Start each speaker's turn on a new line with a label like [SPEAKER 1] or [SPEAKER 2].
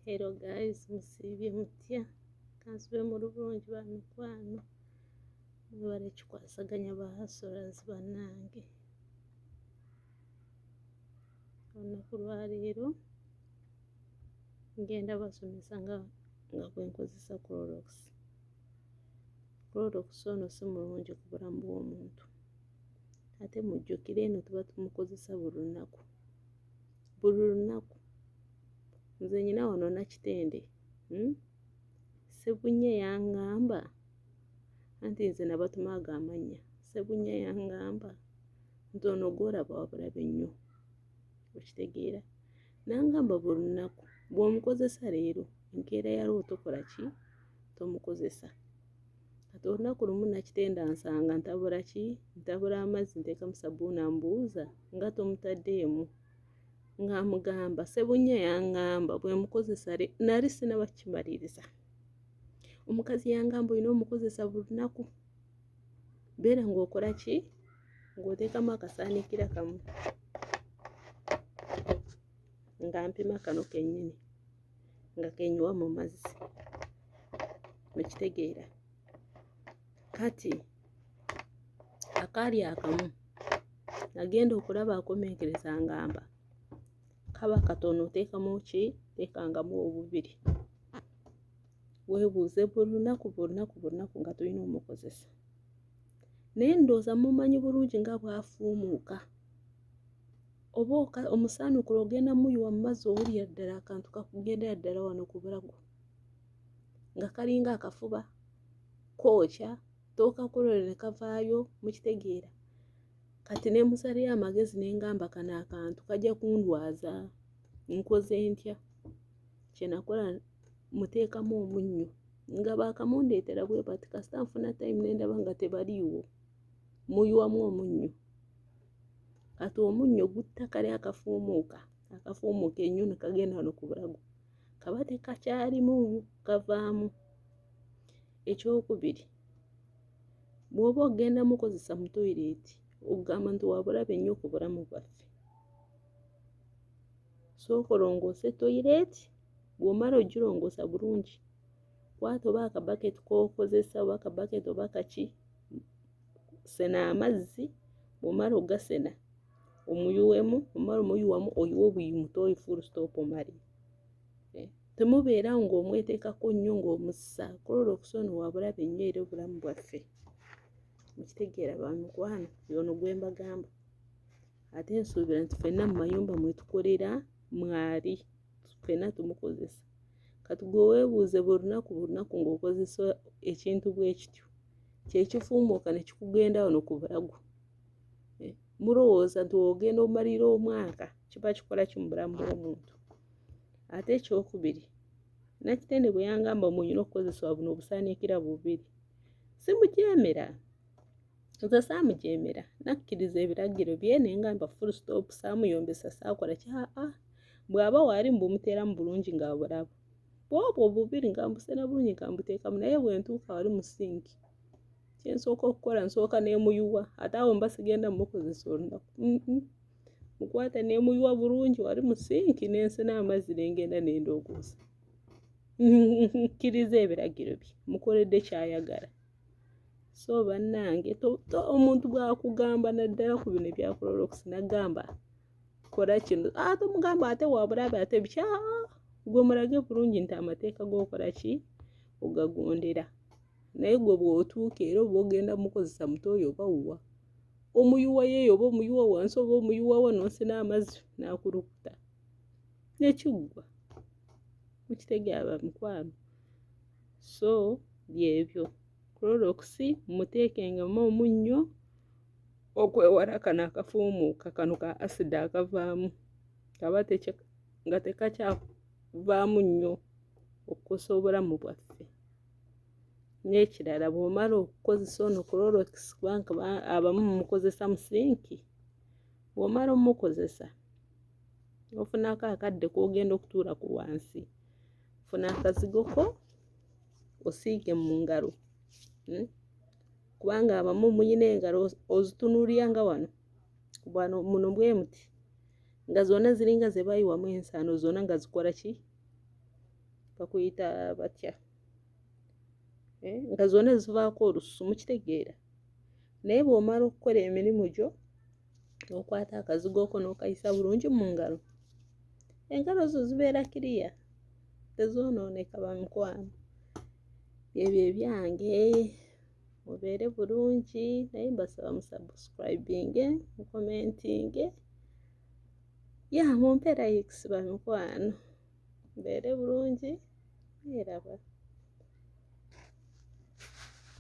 [SPEAKER 1] Hello guys, musiibye mutya? Kansube mu lubungi ba mikwano, mwebale kikwasaganya ba hustlers bannange. Olunaku lwa leero ngenda basomesa nga nga bwe nkozesa Clorox. Clorox ono si mulungi ku bulamu bw'omuntu, ate mujjukire eno tuba tumukozesa buli lunaku. buli lunaku nze nyina wano nakitende hmm? sebunya yangamba anti nze nabatuma ago amanya sebunya yangamba nti ono gwolaba wabulabe nnyo okitegeera nangamba buli lunaku bw'omukozesa leero enkeera yalwo tokola ki tomukozesa kati olunaku lumu nakitenda nsanga ntabula ki ntabula amazzi ntekamu sabuuni ambuuza nga tomutaddeemu nga amugamba sebunya yangamba bwemukozesa nali sinaba kimaliriza omukazi yangamba olina omukozesa buli lunaku beera ngaokola ki ng'oteekamu akasaanikira kamu nga mpima kano kennyini nga genywa mu mazzi mukitegeera kati akaali akamu nagenda okulaba akomenkereza ngamba kaba katono oteekamu ki teekangamu obubiri weebuuze buli lunaku buli lunaku buli lunaku nga tulina omukozesa naye ndowooza mumanyi bulungi nga bwafuumuuka oba omusaanukula ogenda muyiwa mu mazzi owulira ddala akantu kakugendera ddala wano ku bulago nga kalinga akafuba kookya tookakulole ne kavaayo mukitegeera kati ne musaleyo amagezi ne ngamba kano akantu kajja kundwaza nkoze ntya kye nakola muteekamu omunnyo nga baakamundeetera bwe bati kasita nfuna time ne ndaba nga tebaliiwo muyiwamu omunnyo kati omunnyo gutta kali akafuumuuka akafuumuuka ennyo ne kagenda wano ku bulago kaba tekakyalimu kavaamu ekyokubiri bw'oba ogenda mukozesa mu toyireeti okugamba nti wabulabe nnyo ku bulamu bwaffe sooka olongoose toyireeti bw'omala ogirongoosa bulungi kwata oba akabaketi k'okozesa oba akabaketi oba kaki sena amazzi bwomala ogasena omuyuwemu omala omuyuwamu oyiwe obuyi mutoyi full stop omale eh, temubeera ng'omweteekako nnyo ng'omussa klorokisi ono wabulabe nnyo era obulamu bwaffe mukitegeera bamikwano yono gwembagamba ate nsuubira nti fenna mu mayumba mwetukolera mwali fenna tumukozesa kati gwe weebuuze buli lunaku buli lunaku ng'okozesa ekintu bwe kityo kyekifuumuuka ne kikugenda wano ku bulago eh, mulowooza nti ogenda omalira omwaka kiba kikola ki mu bulamu bw'omuntu ate ekyokubiri nakitende bwe yangamba mwenyina okukozesebwa buno obusaanikira bubiri simujeemera nze saamujeemera nakkiriza ebiragiro bye naye nga mba full stop saamuyombesa saakola ki aa bw'aba waali mbumuteeramu bulungi nga bulaba bwobwo obubiri nga mbusena bulungi nga mbuteekamu naye bwe ntuuka wali mu sinki kye nsooka okukola nsooka n'emuyuwa ate awo mba sigenda mumukozesa olunaku mukwata n'emuyuwa bulungi wali mu sinki n'ensena amazzi ne ngenda ne ndoogoza nkkiriza ebiragiro bye mukoledde ky'ayagala so bannange omuntu bwakugamba naddala ku bino ebyakulolokisi nagamba kola kino ate omugamba ate wabulabe ate bikya gwe mulage bulungi nti amateeka gokola ki ogagondera naye gwe bwotuuka era oba ogenda mukozesa muto oyo oba wuwa omuyuwa yeeyo oba omuyuwa wansi oba omuyuwa wano nsi n'amazzi n'akulukuta nekiggwa mukitegeaba mikwano so byebyo kulolokisi muteekengemu omunnyo okwewala kano akafuumuuka kano ka asida akavaamu kaba nga tekakyavaamu nnyo okukosa obulamu bwaffe n'ekirala bw'omala okukozesa ono kulolokisi kubanga abamu mukozesa musinki bw'omala omukozesa ofunako akadde k'ogenda okutuula ku wansi funa akazigo ko osiige mu ngalo hmm? kubanga abamu muyina engalo ozitunulira nga wano bwano muno bwe muti nga zonna ziringa ze bayiwamu ensaano zonna nga zikola ki bakuyita batya eh? nga zonna zivaako olususu mukitegeera naye bw'omala okukola emirimu gyo okwata akazigo oko n'okayisa bulungi mu ngalo engalo zo zibeera kiriya tezoonooneka bamukwano ebyo ebyange mubeere bulungi naye mbasaba musubscribinge mukomentinge ya mumpe likes bamikwano mbeere bulungi neeraba